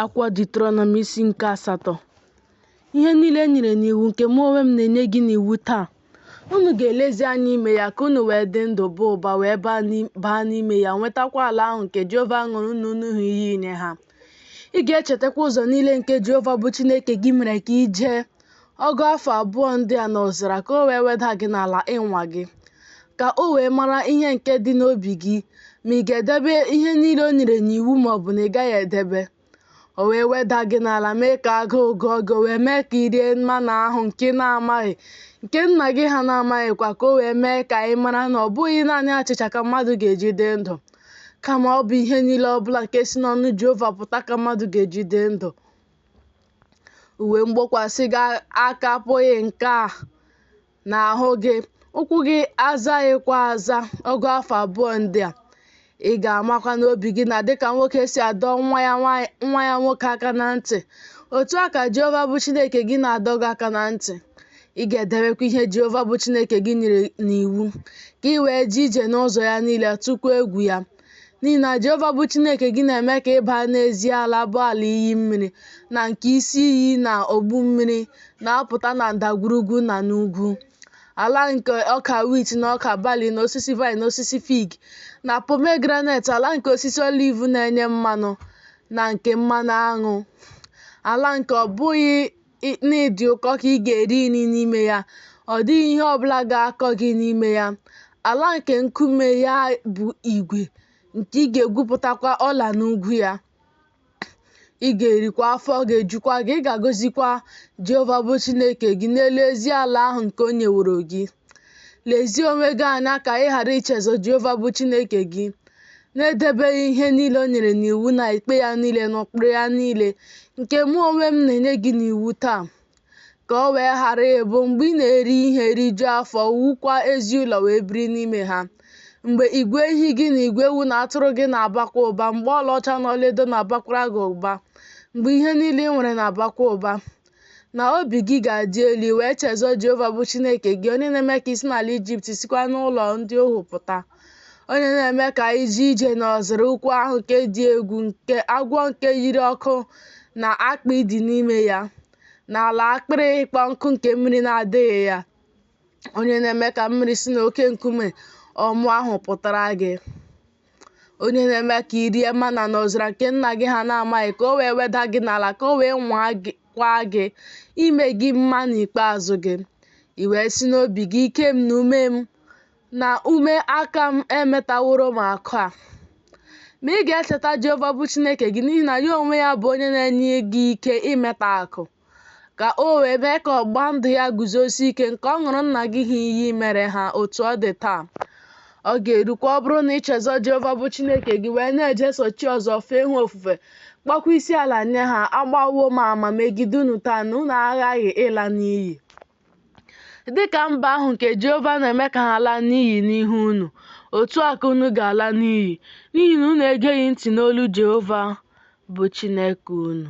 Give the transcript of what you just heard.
Akwụkwọ Diuterọnọm isi nke asatọ ihe niile e nyere n'iwu nke mụ onwe m na-enye gị n'iwu taa unu ga-elezi anya ime ya ka unu wee dị ndụ baa ụba wee baa n'ime ya nwetakwa ala ahụ nke Jehova ṅụrụ nna unu ha iyi inye ha ị ga-echetakwa ụzọ niile nke Jehova bụ Chineke gị mere ka i jee ọgụ afọ abụọ ndị a n'ọzara ka o wee weda gị n'ala ịnwa gị ka o wee mara ihe nke dị n'obi gị ma ị ga-edebe ihe niile o nyere n'iwu ma ọ bụ na ị gaghị edebe o wee weda gị n'ala mee ka agụụ gụọ gị o wee mee ka i rie mana ahụ nke ị na-amaghị nke nna gị ha na-amaghịkwa ka o wee mee ka ị mara na ọ bụghị naanị achịcha ka mmadụ ga-eji dị ndụ kama ọ bụ ihe niile ọ bụla nke si n'ọnụ Jehova pụta ka mmadụ ga-eji dị ndụ uwe mgbokwasị gị akapụghị nka n'ahụ gị ụkwụ gị azaghịkwa aza ọgụ afọ abụọ ndị a ị ga-amakwa n'obi gị na dịka nwoke si adọ nwa ya nwoke aka na ntị otu a ka jehova bụ chineke gị na-adọ gị aka na ntị ị ga-edebekwa ihe jehova bụ chineke gị nyere n'iwu ka i wee jee ije n'ụzọ ya niile tụkwa egwu ya n'ihi na Jehova bụ Chineke gị na-eme ka ị baa n'ezi ala bụ ala iyi mmiri na nke isi iyi na ogbu mmiri na-apụta na ndagwurugwu na n'ugwu, ala nke ọka wit na ọka bali na osisi vaịn na osisi fig na pomegranet, ala nke osisi oliv na-enye mmanụ na nke mmanụ aṅụ, ala nke ọ bụghị n'ịdị ụkọ ka ị ga-eri nri n'ime ya, ọ dịghị ihe ọ bụla ga-akọ gị n'ime ya. Ala nke nkume ya bụ igwe, nke ị ga-egwupụtakwa ọla n'ugwu ya. Ị ga-erikwa afọ ga-ejukwa gị, ị ga-agọzikwa Jehova bụ Chineke gị n'elu ezi ala ahụ nke o nyeworo gị. Lezie onwe gị anya ka ị ghara ichezọ Jehova bụ Chineke gị, na-edebeghị ihe niile o nyere n'iwu na ikpe ya niile na ụkpụrụ ya niile, nke mụ onwe m na-enye gị n'iwu taa, ka o wee ghara ịbụ mgbe ị na-eri ihe rijuo afọ, wukwaa ezi ụlọ wee biri n'ime ha, mgbe igwe ehi gị na igwe ewu na atụrụ gị na-abakwa ụba, mgbe ọlaọcha na ọlaedo na-abakwara gị ụba, mgbe ihe niile i nwere na-abakwa ụba, na obi gị ga-adị elu i wee chezọ Jehova bụ Chineke gị onye na-eme ka i si n'ala Ijipt sikwa n'ụlọ ndị ohu pụta onye na-eme ka i jee ije n'ọzara ukwu ahụ nke dị egwu nke agwọ nke yiri ọkụ na akpị dị n'ime ya na ala akpịrị ịkpọ nkụ nke mmiri na-adịghị ya onye na-eme ka mmiri si n'oke nkume ọmụ ahụ pụtara gị onye na-eme ka i rie mana n'ọzara nke nna gị ha na-amaghị ka o wee weda gị n'ala ka o wee nwakwaa gị ime gị mma n'ikpeazụ gị i wee si n'obi gị ike m na ume m na ume aka m emetaworo m akụ a ma ị ga-echeta Jehova bụ Chineke gị n'ihi na ya onwe ya bụ onye na-enye gị ike imeta akụ ka o wee mee ka ọgba ndụ ya guzosie ike nke ọ ṅụrụ nna gị ha iyi mere ha otu ọ dị taa ọ ga-erukwa ọ bụrụ na ị chezọ Jehova bụ Chineke gị wee na-ejeso chi ọzọ fee ha ofufe kpọkwa isi ala nye ha agbawo m ama megide unu taa na unu aghaghị ịla n'iyi dị ka mba ahụ nke Jehova na-eme ka ha laa n'iyi n'ihu unu otu a ka unu ga-ala n'iyi n'ihi na unu egeghị ntị n'olu Jehova bụ Chineke unu